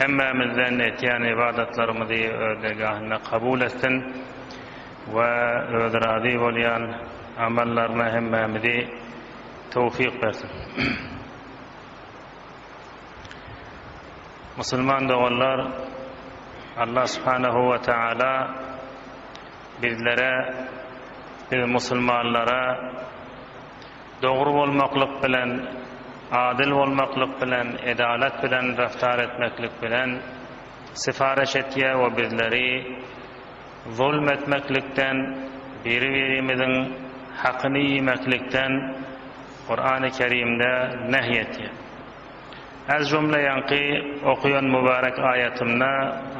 hemmämizden etýän ybadatlarymyzy öz dergahynda kabul etsin we özi razy bolýan amallaryna hemmämizi towfyk bersin. Musulman doganlar, Allah subhanehu we taala bizlere, biz musulmanlara Dogry bolmaklyk bilen, adyl bolmaklyk bilen, edalat bilen raftar etmeklik bilen syfaryş etýär we bizleri zulm etmeklikden, biri-birimiziň hakyny iýmeklikden Kurany Kerimde nehy etýär. Az jumla ýaňky okaýan mubarek aýatymda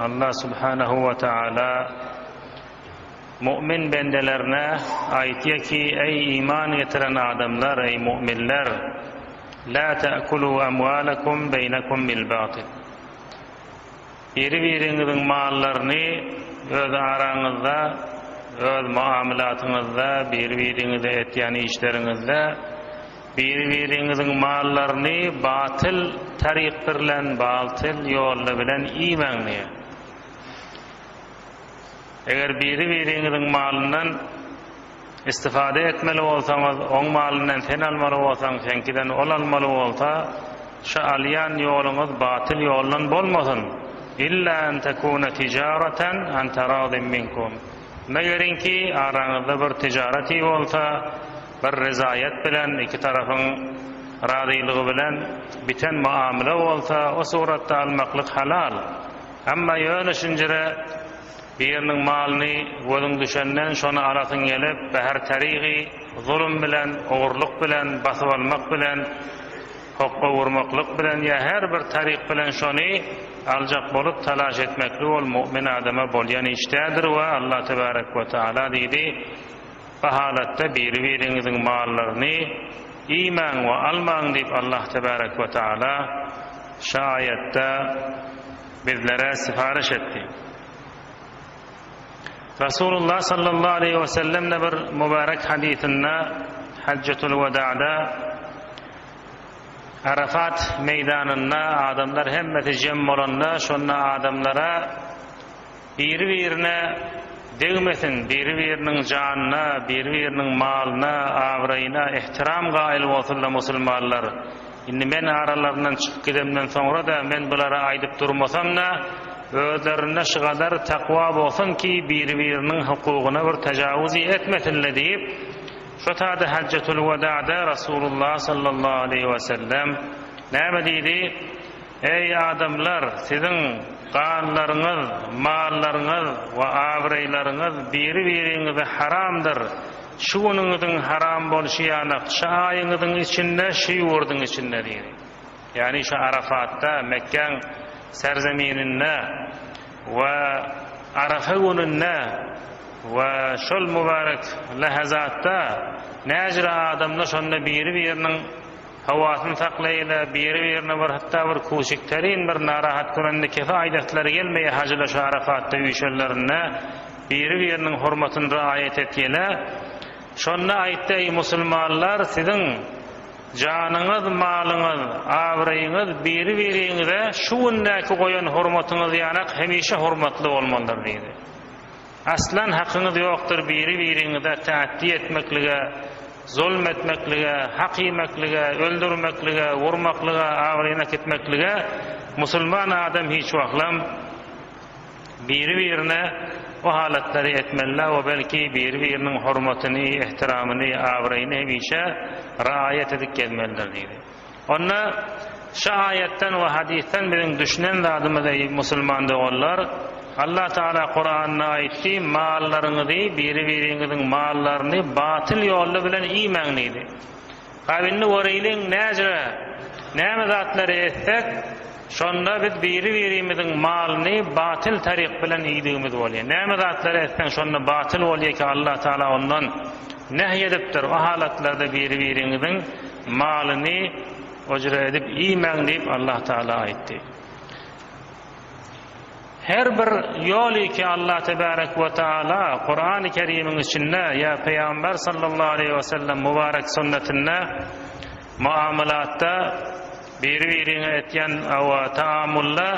Allah subhanahu we taala, Mu'min bendelerine aýtýa ki, eý iman getiren adamlar, eý mu'minler, Lä ta'kulû amwâlekum beýnekum bil batil. Biri-biriňiziň mallaryny öz araňyzda, öz muamylatyňyzda, biri-biriňize etýän işleriňizde, biri-biriňiziň mallaryny batyl taryk birlen, baltyl ýolla bilen iýmäň diýýär. Eger biri-biriňiziň malyndan istifade etmeli bolsaňyz, oň malyndan sen almaly bolsaň, seňkiden ol almaly bolsa, şu alýan ýoluňyz batyl ýoldan bolmasyn, illa an tekune tijaratan an taradin minkum, megerinki araňyzda bir tijareti bolsa, bir rizaýat bilen, iki tarapyň razylygy bilen biten muamele bolsa, o suratda almaklyk halal. Emma ýöne şinjire biriniň malyny gözüň düşenden şony alasyň gelip, bäher tarygy zulum bilen, ogurlyk bilen, basyp almak bilen, hokga urmaklyk bilen ýa her bir taryk bilen şony aljak bolup talaş etmeklik ol mu'min adama bolýan iş däldir we Allah tebarek we taala diýdi, Bu halatda biri-biriňiziň mallaryny iýmäň we almaň diýip Allah tebärek we taala şu aýatda bizlere syparyş etdi. Rasulullah sallallahu aleýhi we sellemde bir mübärek hadysynda Hajjatul weda'da Arafat meýdanynda adamlar hemmesi jem bolanda şonda adamlara Biri-birine degmesin, biri-biriniň janyna, biri-biriniň malyna, abraýyna ähtiram gaýyl bolsun-da musulmanlar. Indi men aralaryndan çykyp gidemden soňra-da men bulary aýdyp durmasam-da, özlerinde şu gadar takwa bolsun ki, biri-biriniň hukugyna bir tajawuzy etmesin-le diýip, şo tada Hajjatul-Wedada Rasulullah sallallahu aleýhi we sellem näme diýdi? Eý, adamlar! Siziň ganlaryňyz, mallaryňyz we abraýlaryňyz biri-biriňize haramdyr. Şu günüňiziň haram bolşy ýanak şu aýyňyzyň içinde şu ýurduň içindedir, ýagny şu Arafatda, Mekgäň serzemininde we Arafa gününde we şol mübarek lähazatda näjire adamlar şonda biri-biriniň Hawasyny saklaýyla biri birine bir hatda bir kuşik terin bir narahat görende kefe aýdaslary gelmeýe hajyla şu arafatda üýşenlerinde biri biriniň hormatyny raýat etýele şonda aýtdy eý musulmanlar siziň janyňyz malyňyz abraýyňyz biri biriňize şu gündäki goýan hormatyňyz ýanak hemişe hormatly bolmalydyr diýdi Aslan hakyňyz ýokdur biri biriňize tätdi etmeklige, zulm etmeklige, hak iýmeklige, öldürmeklige, urmaklyga, abraýyny äkitmeklige, musulman adam hiç wagtlam biri birine o halatlary etmelidä o belki biri biriniň hormatyny, ehtiramyny, abraýyny hemişe raýat edip gezmelidir diýdi. Onda şu aýatdan we hadysdan biziň düşünen zadymyz eý musulman doganlar, Allah Taala Kuranda aýtdy, mallaryňyzy, biri-biriňiziň mallaryny batyl ýolly bilen iýmäň diýdi. Hab indi göreýliň näjre, näme zatlary etsek, Şonda biz biri-birimiziň malyny batyl taryk bilen iýdigimiz bolýar. Näme zatlary etseň şonda batyl bolýar ki Allah Taala ondan nähy edipdir, o halatlarda biri-biriňiziň malyny ujra edip iýmäň diýip Allah Taala aýtdy. Her bir ýoly ki Allah Tebarek we Taala Kurany Kerimiň içinde ýa Pygamber Sallallahu Aleýhi Wesellem Mubarek Sünnetinde Muamalatda biri-biriňe etýän awa taamulda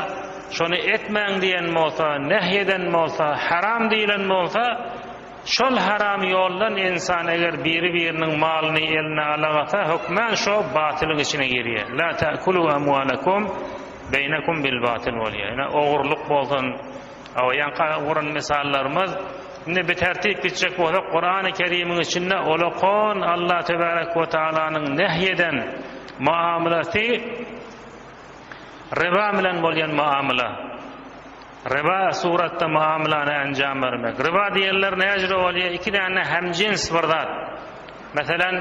şony etmäň diýen bolsa, nehy eden bolsa, haram diýilen bolsa, şol haram ýoldan insan eger biri-biriniň malyny eline alagasa hökmän şo batylyň içine girýär. La ta'kulu amwalakum beýnakum bil batyl bolýar. Ine ogurlyk bolsun, Hawa, ýaňky guran mysallarymyz, indi bitartip gitjek bolsak, Kurany Kerimiň içinde ulakon Allah Tebarek we Tagalanyň nähy eden muamalasy riba bilen bolýan muamala. Riba suratda muamalany anjam bermek. Riba diýenler näjüre bolýar? Iki däne hemjins bir zat. Meselem,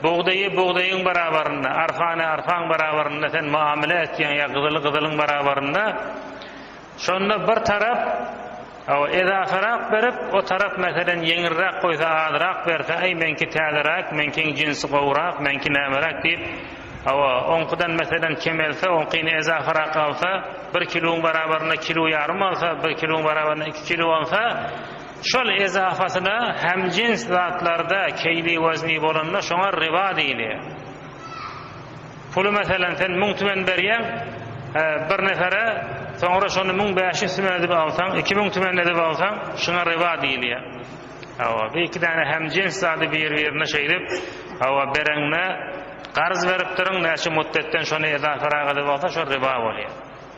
bugdaýy bugdaýyň barabarynda, arfany arfaň barabarynda sen muamala etýäň ýa gyzyly gyzylyň barabarynda. Şonda bir tarap, hawa, edasyrak berip, o tarap, meselem, ýeňilräk goýsa, azrak berse, Aý, meňki täzeräk, meňkiň jinsi gowurak, meňki nämeräk diýip, hawa, oňkudan, meselem, kemelse, oňkyny edasyrak alsa, bir kiluň barabarynda kilu ýarym alsa, bir kiluň barabarynda iki kilu alsa, şol edasasyna hämjins zatlarda keýli-wezni bolanda, şoňa riba diýilýär. Puly meselem sen müň tümen berýäň bir nefere soňra şony müň bäş ýüz tümen edip alsaň iki müň tümen edip alsaň şuňa riba diýilýär. Hawa bu iki däne hemjins zady bir birine şeýdip hawa bereňde garz beripdiriň näçe mutdetden şony edaferak edip alsa şo riba bolýar.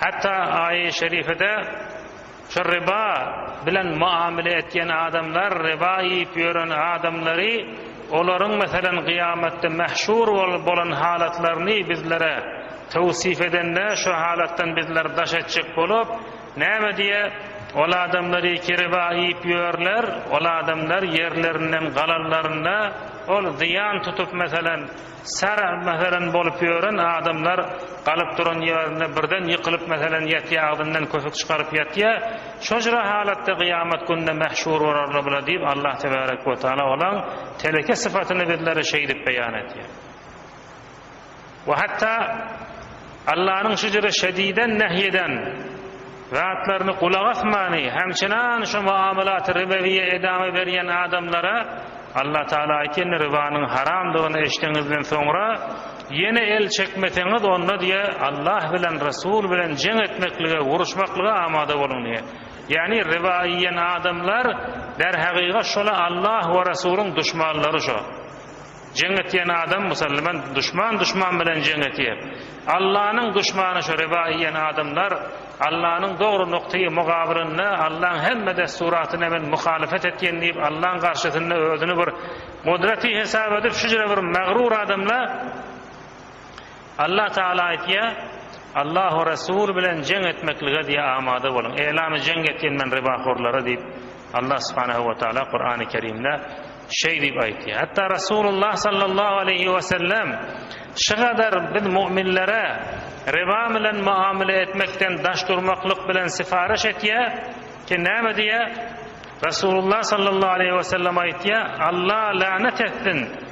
Hatda aýy şerifede şu riba bilen muamele etýän adamlar, riba iýip ýören adamlary, olaryň meselem gyýamatda mahşur bolup bolan halatlaryny bizlere towsif edende şu halatdan bizler daş etjek bolup, näme diýe, Ol adamlary ki riba iýip ýörler, ol adamlar ýerlerinden galanlarynda ol zyýan tutup meselem, Sara meselem bolup ýören adamlar galyp duran ýerinde birden ýykylyp meselem ýatýa agzyndan kösük çykaryp ýatýa şojra halatda gyýamat günde mähşur borarlar bula diýip Allah tebarek we taala olaň teleke sypatyny bizlere şeýdip beýan etýär we hatda Allanyň şejere şediden nehy eden zatlaryny gulak asmany hem çynan şu muamalat-y ribewiýe edama berýän adamlara Allah Taala aýtýandy, ribanyň haramdygyny eşdeňizden soňra ýene el çekmeseňiz onda diýe Allah bilen Resul bilen jeň etmeklige, uruşmaklyga amada boluň diýe. Ýagny riba iýen adamlar derhagyga şola Allah we Resulyň duşmanlary şo. Jeň etýän adam musalman duşman duşman bilen jeň etýär. Allanyň duşmany şu riba iýen adamlar Allanyň dogry nuktaýy mugabylynda Allaň hemme dessuratynda men muhalyfet etýän diýip Allaň garşysynda özüni bir gudraty hesap edip şujra bir magrur adamla Allah Tagala aýtýar, Allahu Resul bilen jeň etmeklige diýe amada boluň, elamy jeň etýän men rybahorlara diýip Allah Subhanehu we Tagala Kurany Kerimde şeý diýip aýtýar. Hatda Resulullah Sallallahu Aleýhi we Sellem şygadar biz mu'minlere ryba bilen muamele etmekden daş durmaklyk bilen syparyş etýär ki näme diýär? Resulullah Sallallahu Aleýhi we Sellem aýtýar, Allah lanet etsin!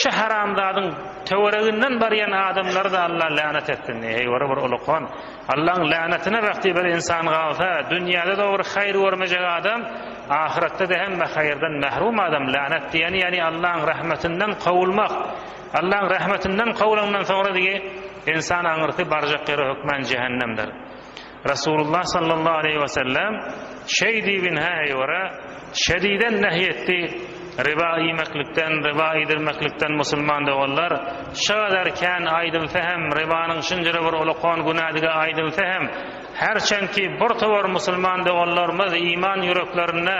Şu haramzadyň töwereginden barýan adamlary da Allah länet etsin diýýär. Heý wara bir ulukhan. Allaň länetine bähti bir insan galsa, dünýäde de bir haýyr görmejek adam, ahyretde de hemme haýyrdan mährum adam. Länet diýeni ýani Allaň rahmetinden kowulmak. Allaň rahmetinden kowlandan soňra digi insan aňyrsy barjak ýeri hökmän jähennemdir. Resulullah sallallahu aleýhi we sellem şeý diýip inhä eýwara şediden nehy etdi, Riba iýmeklikden, riba iýdirmeklikden musulman doganlar, şu gadar kän aýdylsa hem, ribanyň şunjra bir ulkan günädigi aýdylsa hem, her çenki birtowar musulman doganlarymyz iman ýüreklerinde,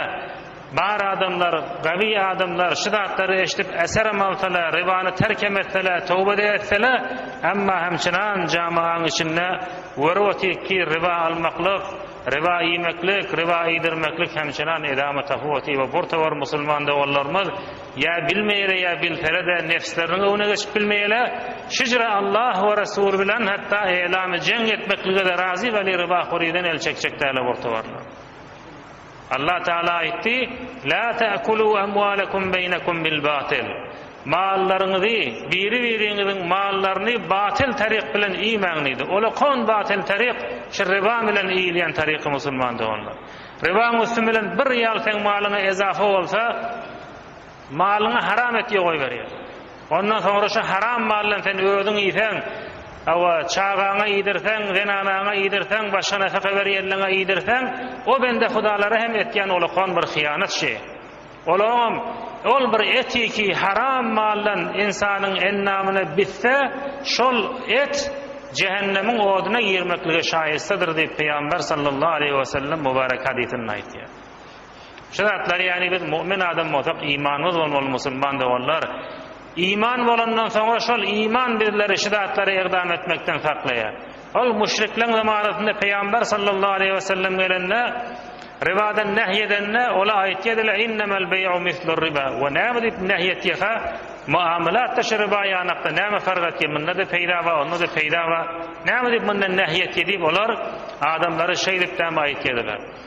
Bar adamlar, gawi adamlar şu zatlary eşdip äserim alsalar, ribany terk emesseler, towbe-de etseler, emma hem çynan jamaanyň içinde görüp otyk ki, riba almaklyk, riba iýmeklik, riba iýdirmeklik hem çynan edama tapyp otyr we bir towar musulman doganlarymyz ýa bilmeýärler ýa bilseler-de nebsleriniň öwüne geçip bilmeýärler, şüjre Allah we Resul bilen hatda eýlamy jeň etmeklige-de razy weli ribahorydan el çekjek däl-a bir towarlar. Allah Tagala aýtdy, La ta'kulu amwalakum beýnakum bil batyl, Mallaryňyzy, biri-biriňiziň mallaryny batyl taryk bilen iýmäň diýdi. Ol kon batyl taryk, şu riba bilen iýilýän taryky musulman doganlar. Ribaň üsti bilen bir ýag seň malyňa ezafa bolsa, Malyňy haram et diýip goýberýär. Ondan soňra şu haram maldan sen özüň iýseň, hawa, çagaňa iýdirseň, zenanaňa iýdirseň, başga nafaka berýänleňe iýdirseň, o bende hudalara hem etýän olakan bir hyýanat şi. Olaňam ol bir etiki haram maldan ynsanyň endamyna bitse, şol et jähennemiň oduna girmeklige şaýystadyr diýip, Pygamber sallallahu aleýhi wesellem mubarek hadysynda aýtýar. Şu zatlar ýagny biz mu'min adam bolsak imanymyz bolmaly musulman doganlar. Iman bolandan soňra şol iman bizleri şu zatlara ykdam etmekden saklaýar. Ol müşrikleň zamanasynda Peýamber sallallahu aleýhi we sellem gelende ribadan nähy edende ola aýtýadylar innemel beý'u mislur riba we näme diýip nähy etýäka muamalatda şu riba ýanakda näme fark etýär mundada peýda bar ondada peýda bar näme diýip mundan nähy etýär diýip olar adamlary şeýdip däme aýtýadylar.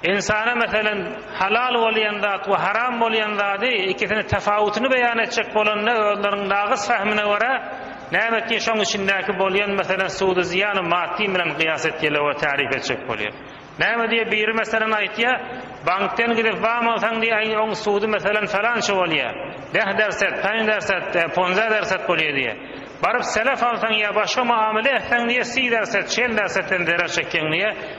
Ynsana meselem, halal bolýan zat we haram bolýan zady, ikisini tapawutyny beýan etjek bolanda, özleriniň nagys fahmine görä, näme etdiň şoň içindäki bolýan meselem sudy zyýany maddy bilen gyýas etýäler we tarif etjek bolýar. Näme diýýär biri meselem aýtýar, bankden gidip wam alsaň diýýär aý oň sudy meselem falança bolýar, deh derset, paň derset, ponza derset bolýar diýýär. Baryp selef alsaň ýa başga muamele etseň diýýär si derset, şel dersetden zerer çekýäň diýýär.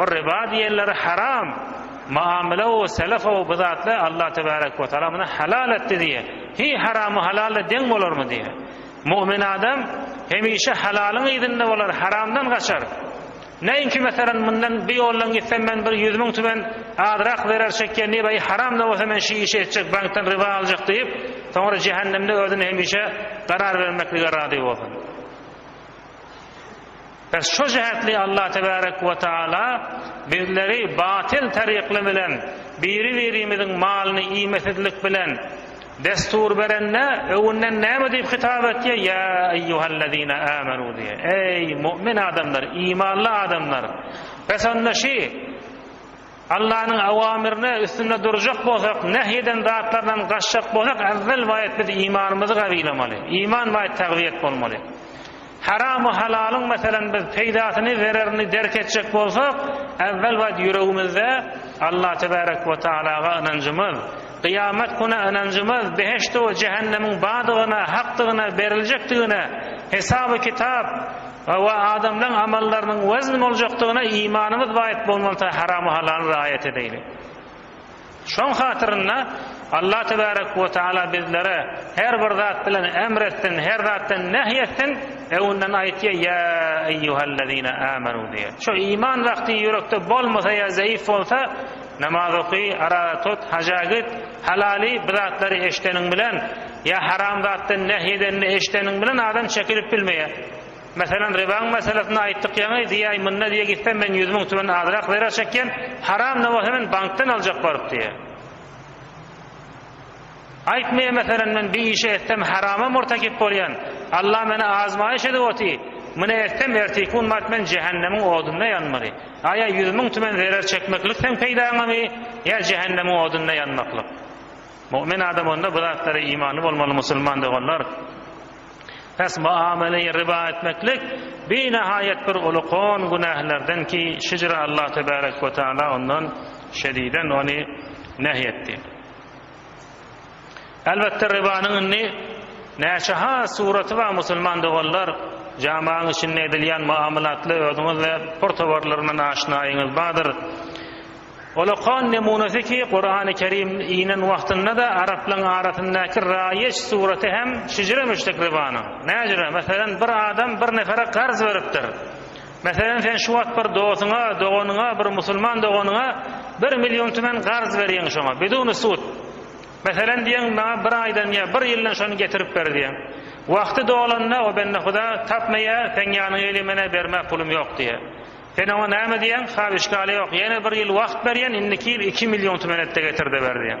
O riba diýenleri haram muamele o selef o bu zatly Allah tebarek ve taala muny halal etdi diye hi haramy halalla deň bolarmy diye mu'min adam hemişe halalyň yzynda bolar haramdan gaçar Neinki meselen mundan bu ýoldan gitsem men bir ýüz müň tümen azrak zerer çekýän diýip aý haram da bolsa men şi işi etjek bankdan riba aljak diýip soňra jehennemde özüni hemişe garar bermeklige razy bolsun. Bäh şo jähtli Allah tebarek we taala bizleri batyl tarykly bilen biri birimiziň malyny iýmesizlik bilen destur berende öwünden näme diýip hitap etýär ýa eýýuhellezine âmenû diýe eý mu'min adamlar imanly adamlar bes onda şi Allanyň awamyrine üstünde durjak bolsak, nähy eden zatlaryndan gaçjak bolsak, ewwel baýat biz imanymyzy gawylamaly, iman baýat tagwiýet bolmaly. Haram we halalyň meselem biz peýdasyny, zererini derk etjek bolsak, ewwel baýat ýüregimizde Allah tebarek we taalaga ynanjymyz, gyýamat güne ynanjymyz, behişde we jähennemiň bardygyna, hakdygyna, beriljekdigine, hesab we kitap, Hawa, adamlaň amallarynyň wezn boljakdygyna imanymyz baýyk bolmalyta haramy halaly raýat edeýli. Şoň hatyrynda Allah tebarek we taala bizlere her bir zat bilen emr etsin, her zatdan nehy etsin, öňünden aýtýa ýa eýýuhellezine amenu diýe. Şo iman wagty ýürekde bolmasa ýa zeýif bolsa, Namaz oky, araga tut, haja git, halaly bir zatlary eşideniň bilen, ýa haram zatdan nähy edenini eşideniň bilen adam çekilip bilmeýär. Meselem, ribaň meselesini aýtdyk ýaňy, diýäý, munda diýe gitsem men ýüz müň tümen azrak zerer çekýän, haram da bolsa men bankdan aljak baryp diýýär. Aýt me meselem men bir işe etsem harama murtakip bolýan Allah meni azmaýyş edip oty muna etsem ertikun bat men jehennemiň odunda ýanmaly aýa ýüz müň tümen zerer çekmeklik seň peýdaňamy ýa jehennemiň odunda ýanmaklyk mumin adam onda bu zatlara imany bolmaly musulman doganlar pes muameleyi riba etmeklik bir nahaýat bir uly kon günahlerden ki şücre Allah tebarek ve taala ondan şediden ony nehy etdi. Elbetde Rybanyň indi näçe has suraty bar musulman doganlar jamaň içinde edilýän muamalatly özüňizde pur towarlaryndan aşnaýyňyz bardyr. Ol okan nemunasy ki Kurany Kerim inen wagtyndada araplaň arasyndaky raýeç suraty hem şijire müşrik Rybanyň. Näjire meselem bir adam bir nefere garz beripdir. Meselem, sen şu wagt bir dosuňa, doganyňa, bir musulman doganyňa bir million tümen garz berýäň şoňa, biduny sud. Meselem diýeň, maňa bir aýdan ýa bir ýyldan şony getirip ber diýeň. Wagty dolanda, o bendehuda tapmaýar, seň ýanyňa gelýär, men-ä bermäk pulum ýok diýýär. Sen oňa näme diýýäň, Hal, işgäle ýok, ýene bir ýyl wagt berýän, indiki ýyl iki million tümen et-de getir-de ber diýýäň.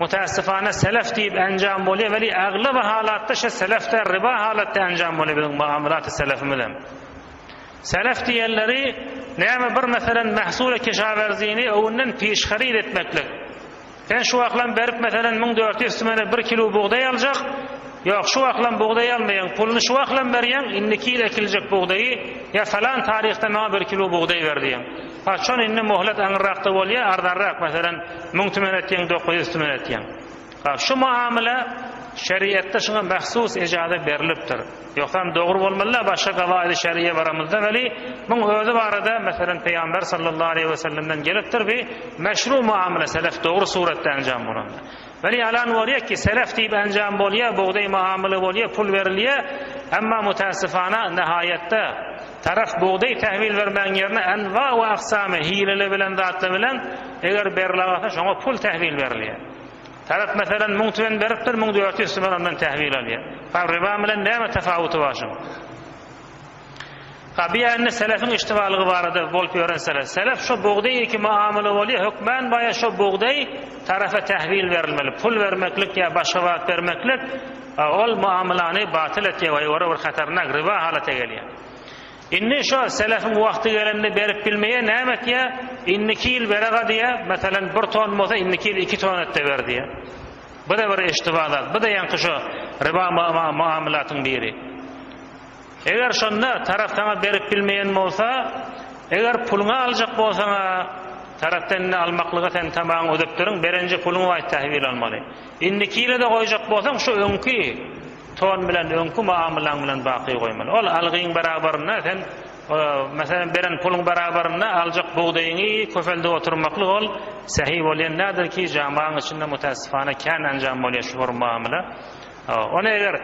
Mutässifana selef diýip enjam bolýar weli aglaba halatda şe selef däl riba halatda enjam bolýar biziň muamalat-y selefimizem. Selef diýenleri näme bir meselen mahsul-y kişawerzini öwünden piş haryt etmeklik. Sen şu wagtlam berip meselen müň dört ýüz tümene bir kilu bugdaý aljak, ýok şu wagtlam bugdaý almaýaň puluny şu wagtlam berýäň indiki ýyl ekiljek bugdaýy ýa falan taryhda maňa bir kilu bugdaý ber diýýäň. Haçan indi mohlet aňyrrakda bolýa arzanrak meselen Müň tümen etýäň, dokuz ýüz tümen etýäň. Ha, şu muamele şeriatda şuňa mahsus ejaza berlipdir. Ýogsam dogry bolmaly-da, başga gawaýdy şeriýe baramyzda weli, muň özi barada, meselem, Peýgamber sallallahu aleýhi we sellemden gelipdir bi meşru muamele selef dogry suratda enjam bolanda. Weli ýalan bolýa ki, selef diýip enjam bolýa, bugdaý muamele bolýa, pul berilýa, emma mutasyfana nahaýatda Tarap bugdaý tähwil bermegiň ýerine anwa we aksamy hileli bilen zatlar bilen eger berla bolsa şoňa pul tähwil berilýär. Tarap meselem müň tüwen beripdir müň dört ýüz tüwen ondan tähwil alýar. Fa riba bilen näme tapawuty bar şuň? Fa biýende selefiň iştibalygy barada bolup ýören sele. Selef şo bugdaý iki muamala bolýar hökmän baýa şo bugdaý tarapa tähwil berilmeli pul bermeklik ýa başga wagt bermeklik. A ol muamylany batyl etýär we ýora bir hatarnak, riba halata gelýär. Indi şo selefiň wagty gelende berip bilmeýär, näme etýär? Indiki ýyl bereg-a diýýär, meselem bir ton bolsa indiki ýyl iki ton et-de ber diýýär. Bu-da bir eşitdiba zat, bu-da ýaňky şo riba muamylatyň biri. Eger şonda tarap saňa berip bilmeýän bolsa, eger puluňy aljak bolsaň-a, tarapdan indi almaklyga sen tamaňy ödepdirin, berenje puluňy waýt tähwil almaly. Indiki ýyla-da goýjak bolsaň, şu öňki ton bilen, öňki muamylaň bilen baky goýmaly. Ol algyň barabarynda sen, meselem, beren puluň barabarynda aljak bugdaýyňy köpeldip oturmaklyk ol sähi bolýan däldir ki, jamagyň içinde mutässipana kän enjam bolýar şu bir muamyla. Ony eger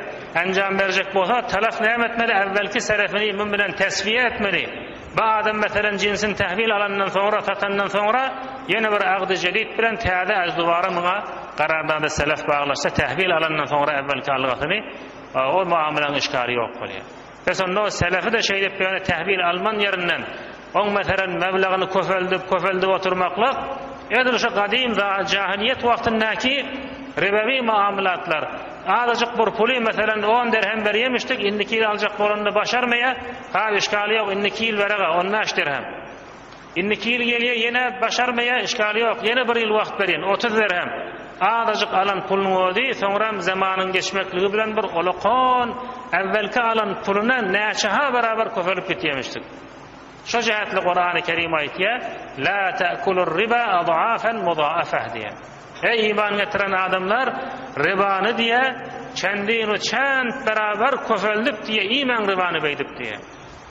enjam berjek bolsa talak näme etmeli äwwelki serefini mum bilen teswiýe etmeli bu adam meselem jinsini tahwil alandan soňra satandan soňra ýene bir agdy jedit bilen täze äz dubara muňa garardada selef baglaşsa tahwil alandan soňra äwwelki algasyny o muamalaň işgali ýok bolýar. Bes onda o selefi-de şeýdipdigine tähbir alman ýerinden, oň meselem meblagyny köpeldip, köpeldip oturmaklyk, edil şu gadym jahylyýet wagtyndaky ribewi muamylatlar, azajyk bir puly meselem on derhem berýemişdik, indiki ýyl aljak bolanda başarmaýa, hap işgaly ýok, indiki ýyl bereg-ä, on bäş derhem. Indiki ýyl gelýä ýene başarmaýa işgal ýok ýene bir ýyl wagt berin otuz derhem azajyk alan pulunyň özi soňram zamanyň geçmekligi bilen bir olakon äwwelki alan puluna näçeha barabar köpelip gitýemişdik şo jähetli Kurany Kerim aýtýa la ta'kulur riba ad'afan muda'afah diýä eý iman getiren adamlar ribany diýä çendin u çent barabar köpeldip diýä iýmäň ribany beýdip diýä.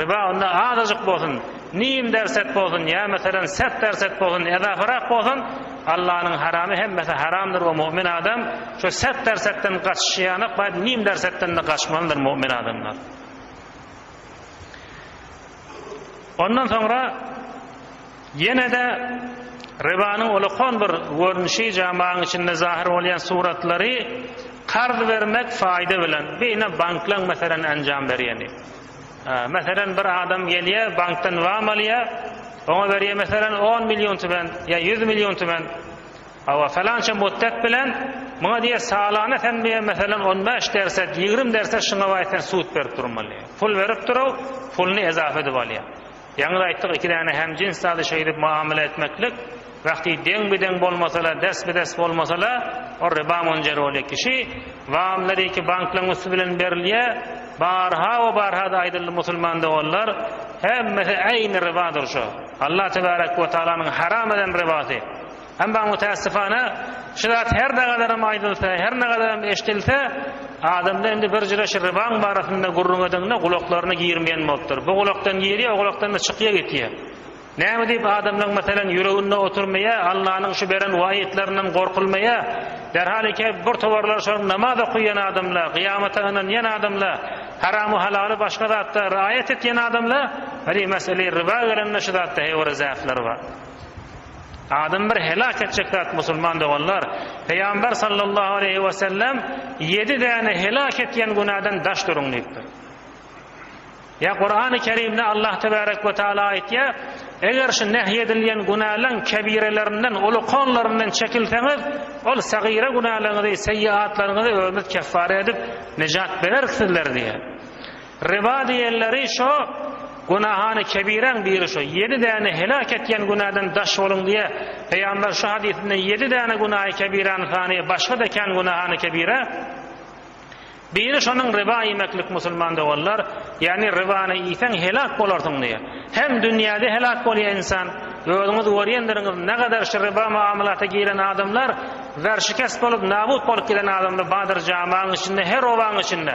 Riba onda azajyk bolsun, nim dersek bolsun ýa meselem sert dersek bolsun, edaparak bolsun, Allanyň haramy hemmesi haramdyr we mu'min adam şu sert dersekden gaçyşýanok baýt nim dersekdende gaçmalydyr mu'min adamlar. Ondan soňra ýenede ribanyň ulakon bir görnüşi jamaň içinde zahir bolýan suratlary karz bermek faýda bilen beýne banklaň meselem enjam berýeni. Meselem bir adam gelýä bankdan wam alýa oňa berýä meselem on million tümen ýa ýüz million tümen hawa felança mutdek bilen muňa diýe salana sen diýe meselem on bäş derset ýigrim derset şuňa baý sen sud berip durmaly pul berip duruw puluny ezafa edip alýa Ýaňyda aýtdyk, iki däne hemjins zady şeýdip muamele etmeklik, wagty deň-bi-deň bolmasa-la, des-bi-des bolmasa-la, ol riba munjeroly. Kişi wamlary iki banklaň üsti bilen berilýä, barha we barha-da aýdyldy, musulman doganlar, hemmesi äýni ribadyr şu. Allah tebärek we tagalanyň haram eden ribasy. Emma mütässifana, şu zat her näkadarem aýdylsa, her näkadarem eşdilse, adamda indi bir jüre şu Rybaň barasynda gürrüň edeňde gulaklaryna girmeýän bolupdyr. Bu gulakdan girýär, o gulakdan-da çykýar gitýär. Näme diýip adamlaň, meselem, ýüreginde oturmaýar, Allanyň şu beren waýytlaryndan gorkulmaýar. Derhal eke bir towarlar şol namaz okaýan adamlar, gyýamata ynanýan adamlar, haramy-halaly başga zatda raýat etýän adamlar, hany, mesele Ryba gelende şu zatda heýwara zähleri bar. Adam bir heläk etjek zat musulman doganlar, Pygamber sallallahu aleýhi we sellem ýedi däne heläk etýän günäden daş duruň diýipdir. Ýa Kurany Kerimde Allah tebarek we taala aýtýar, eger şu nähy edilýän günäleň kebirelerinden, ulukanlaryndan çekilseňiz, ol sagyra günäleňizi, seýýaatlaryňyzy özüniz keffara edip, nejat bererik sizler diýýär. Riba diýenleri şo, günahany kebiräň biri şo, ýedi däne heläk etýän günäden daş boluň diýýä. Pygamber şu hadysynda ýedi däne günahy kebirany sanaýa, başga-da kän günahany kebirä. Biri şonuň riba iýmeklik musulman doganlar, ýagny ribany iýseň heläk bolarsyň diýýä. Hem dünýäde heläk bolýa ynsan, özüňiz görýändirňiz nägadar şu riba muamalata giren adamlar werşikes bolup nabut bolup giden adamlar badyr jamaň içinde her obaň içinde.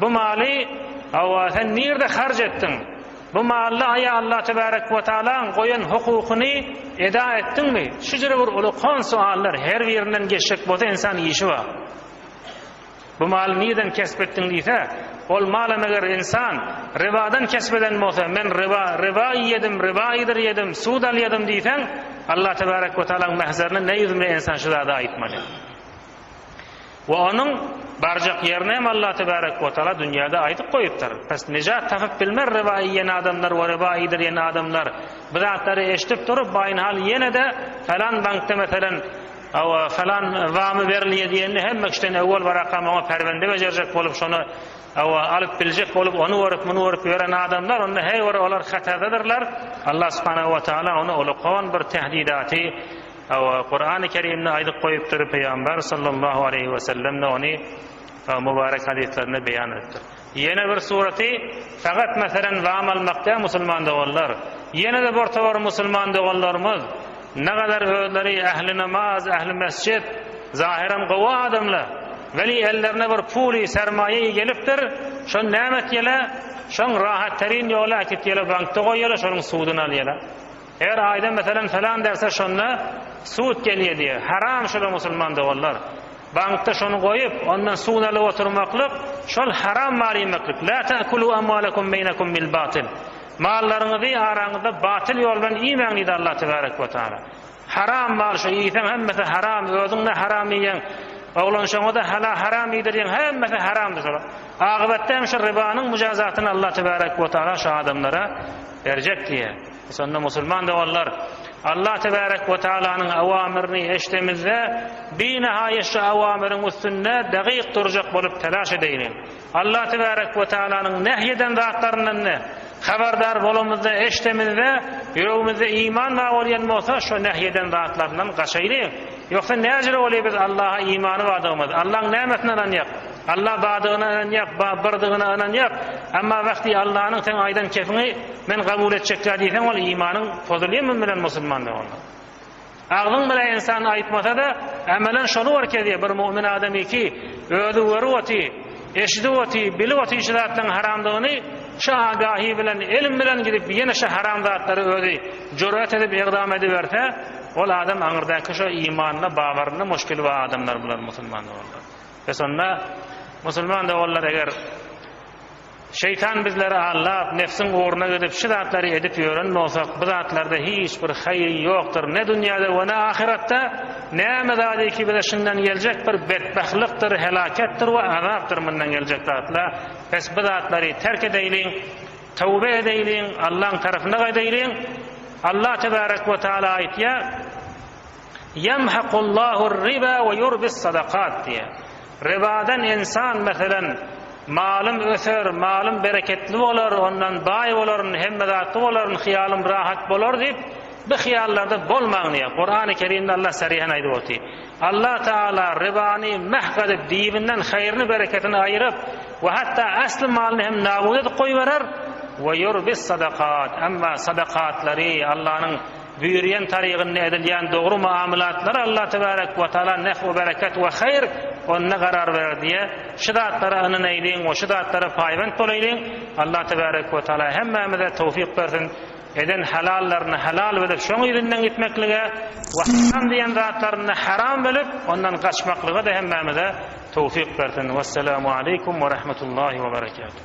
Bu maly, hawa, sen nirde harç etdiň? Bu mally aýa Allah tebarek we taalaň goýan hukukyny eda etdiňmi? Şujra bir ulakan suallar, her birinden geçjek bolsa insan işi bar. Bu maly nirden kesp etdiň diýse, ol malam eger insan ribadan kesp eden bolsa, men riba, riba iýedim, riba iýdir ýedim, sud alýadym diýseň, Allah tebarek we taalaň mähzerine ne ýüz bilen insan şu zady aýtmaly? We onuň barjak ýerini hem Allah tebarek we taala dünýäde aýdyp goýupdyr. Pes nejat tapyp bilmer riba iýen adamlar we riba iýdirýän adamlar. Bu zatlary eşidip durup Baýnhal ýene-de Falan bankda meselem Hawa, falan wamy berilýär diýende hemme kişiden öwwel barakam oňa perbende bejerjek bolup şony Hawa, alyp biljek bolup ony görüp muny görüp ýören adamlar onda heý bir olar hatardadyrlar. Allah subhanahu we taala ony ulkan bir tehdidaty, Hawa, Kurany Kerimde aýdyp goýupdyr, Pygamber sallallahu aleýhi we sellem-de ony mubarek hadyslarynda beýan edipdir. Ýene bir suraty sagat meselem wam almak däl musulman doganlar. Ýene-de bir towar musulman doganlarymyz nagadar özleri ähli namaz, ähli mesjit, zahyram gowy adamlar, weli ellerine bir puly, sermaýaýy gelipdir, şony näme etýäler? Şoň rahat terin ýoly äkitýäler bankda goýýalar, şonuň suduny alýalar. Eger aýda meselem salam berse şonda sud gelýär diýýär. Haram şular musulman doganlar. Bankda şony goýup ondan sud alyp oturmaklyk şol haram mal iýmeklik. La ta'kulu amwalakum beýnakum bil batil. Mallaryňyzy araňyzda batyl ýol bilen iýmäň diýdi Allah tebarek we taala. Haram mal şu iýseň hemmesi haram özüň de haram iýýäň. Oglanşaňa da hala haram iýdirýäň hemmesi haramdyr şolar. Agybatda hem şu rybanyň mujazatyny Allah tebarek we taala şu adamlara berjek diýýär. Şonda musulman doganlar, Allah Tebarek we Tagalanyň awamyryny eşidemizde, binahaýa şu awamyryň üstünde dagyk durjak bolup talaş edeýliň. Allah Tebarek we Tagalanyň nähý eden zatlaryndan ne habardar bolamyzda, eşidemizde, ýüregimizde iman bar bolýan bolsa, şo nähý eden zatlaryndan gaçaýlyň. Ýogsa näjire bolýar biz Allaha imany bardygymyz, Allaň nämesine ynanýak? Alla badygyna ynanýak, ba birdygyna ynanýak, emma wahti Allanyň seň aýdan kefiňi men gabul etjekkä diýseň ol imanyň pozulyy mum bilen musulman de onda. Agzyň bile insan aýtmasada emelen şolu bar kezie bir mumin adam iki özi görüp oty, eşidip oty, bilip oty şu zatlaryň haramdygyny şu agahi bilen elim bilen gidip ýene şu haram zatlary özi jurat edip egdam ediberse ol adam aňyrdaki şo imanyna babarynda muşkili ba adamlar bular musulman de onda. Ve şonda musulman doganlar eger Şeýtan bizleri aldap, nefsiň ugruna gidip şu zatlary edip ýören bolsak, bu zatlarda hiç bir haýyr ýokdur, ne dünýäde ve ne ahyratda, näme zady ki bize şundan geljek bir betbahtlykdyr, helaketdir ve azapdyr mundan geljek zatlar, pes bu zatlary terk edeýliň, tövbe edeýliň, Allaň tarapyna gaýdaýlyň, Allah tebarek ve taala aýtýar, Ýemhakullahu-r-riba we ýurbis-sadakat diýýär. Ribadan ynsan, meselem, malym öser, malym bereketli bolar, ondan baý bolaryn, hemme zatly bolaryn, hyýalym rahat bolar diýip, bu hyýallarda bolmaň diýýär. Kurany Kerimde Allah saryhan aýdyp otyr. Allah Tagala ribany mahk edip, dibinden haýryny, bereketini aýyryp we hatda asly malyny hem nabut edip goýberer, we ýurbis-sadakat, emma sadakatlary, Allanyň Büýrýän tarygynda edilýän dogry muamylatlar Allah tebarek we taala nef we bereket we haýyr onda garar berer diýe, şu zatlara ynanaýlyň we şu zatlara paýbent bolaýlyň, Allah tebarek we taala hemmämize towfyk bersin, eden halallaryny halal bilip şoň yzyndan gitmeklige we haram diýen zatlaryny haram bilip ondan gaçmaklyga-da hemmämize towfyk bersin. Wessalamu aleykum we rahmetullahi we berekatuh.